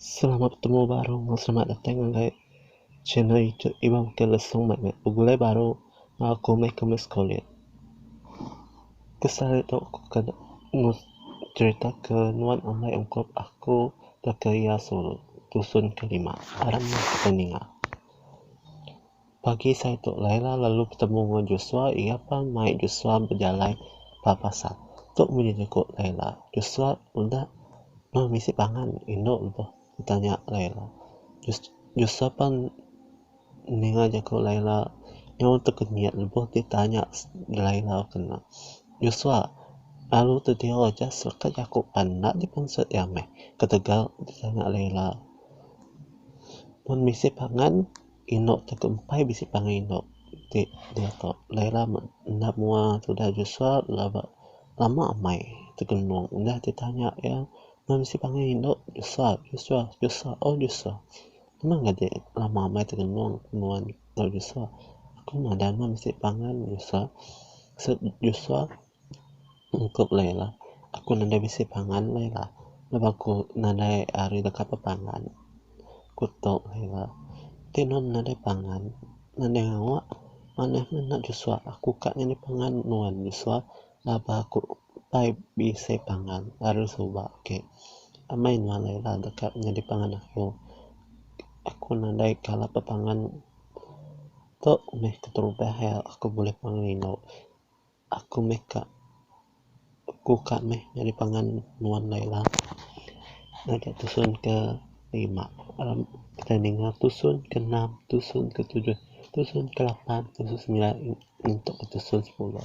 Selamat betemu baru enggau selamat datang ngagai channel youtube Iban Bukit Lesong mat meh begulai baru enggau aku meh aku meh sekolah. Ke selalu tu aku ke cerita ke nuan ambai ungkup aku tauka iya sulu dusun ke lima aram meh siti ninga. Pagi sai tu Laila lalu betemu enggau Joshua iya pan mai Joshua bejalai ba pasar. Tu munyi jaku Laila, Joshua udah meh bisi pangan indu lebuh ditanya Laila. Joshua pan ninga jaku Laila nyau tekenyit lebuh ditanya Laila kena. Joshua lalu tediau aja selekat jaku pan enda dipenset iya meh ketegal ditanya Laila. Mun bisi pangan. Inu tu ke empai bisi pangan inu ti diak tu Laila enda mua tudah Joshua lalu aba lama amai ti genung udah ti tanya iya enda bisi pangan inu Joshua Joshua Joshua oh Joshua memang nyadi lama amai ti genung nuan tau Joshua aku madah meh bisi pangan Joshua seb Joshua Ungkup Laila, Aku nadai bisi pangan Laila, laban aku nadai ari deka bepangan. Ku tok Laila, Ti nuan nadai pangan, nadai ngawa manah nuan enda Joshua. Aku ka nyadi pangan nuan Joshua laban aku pai bisi pangan ari suba ake. Amai nuan Laila deka nyadi pangan aku. Aku nadai kala bepangan tok meh keterubah iya aku buleh pangan inu. Aku meh ka aku ka meh nyadi pangan nuan Laila ngaga tusun ke lima kitai ninga tusun ke enam tusun ke tujuh tusun ke lapan tusun ke semilan ngintu ke tusun ke sepuluh.